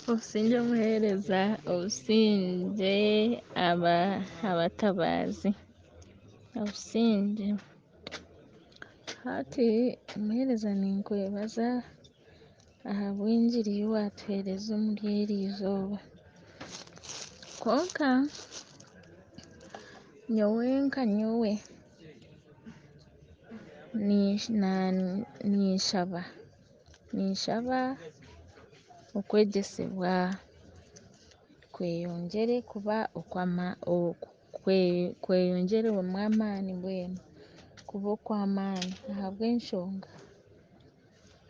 Obusingye omuheereza obusingye abatabaazi obusingye hati omuheereza ninkwebaza ahabw'engiri ei waatuheereza omuri eri izooba kwonka nyowe nka nyowe Ninshaba ninshaba okwegyesibwa kweyongyere kuba kweyongyerwemu amaani mbwenu kuba okw'amaani ahabw'enshonga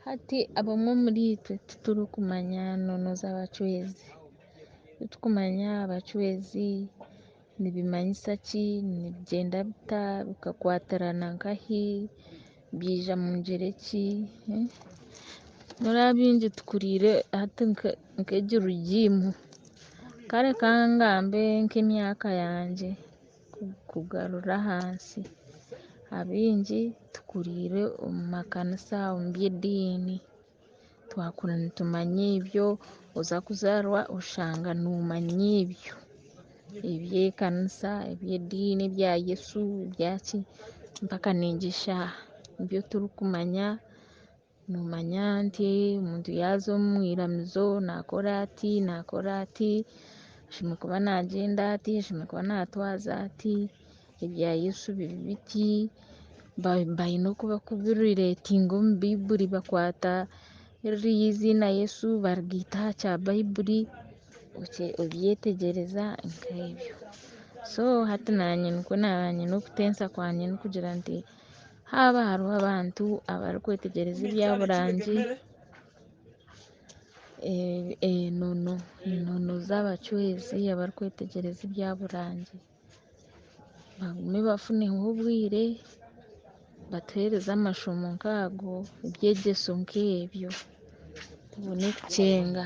hati abamwe omuri itwe titurikumanya noono z'abacwezi titurikumanya abacwezi Nibimanyisa ki? Nibigyenda bita? Bikakwatirana nka ahi? Byaija mu ngyeri eki? N'oraba baingi tukuriire hati nka egi rigiimu. Kare ka ngambe nk'emyaka yangye kugarura ahansi. Abaingi tukuriire omu makanisa, omu by'ediini. twakura nitumanya ebyo oza kuzarwa oshanga nomanya ebyo ebyekanisa ebyediini ebya Yesu ebyaki mpaka nengi eshaaha nibyo turikumanya nomanya nti omuntu yaza omwiramizo nakora ati nakora ati ashemerire kuba nagyenda ati ashemerire kuba natwaza ati Ebya Yesu biri biti baine oku barikubireetinga omu Baibuli bakwata ririya eiziina Yesu barigaita aha kya Baibuli oryetegyereza nk'ebyo so hati naanye nikwo naaba nyine okutensa kwangye n'okugira nti haaba hariho abantu abarikwetegyereza ebya burangi enono enono z'abacwezi abarikwetegyereza ebya burangi bagume bafuneho obwire batuhereze amashomo nk'ago ebyegyeso nk'ebyo tubone kukyenga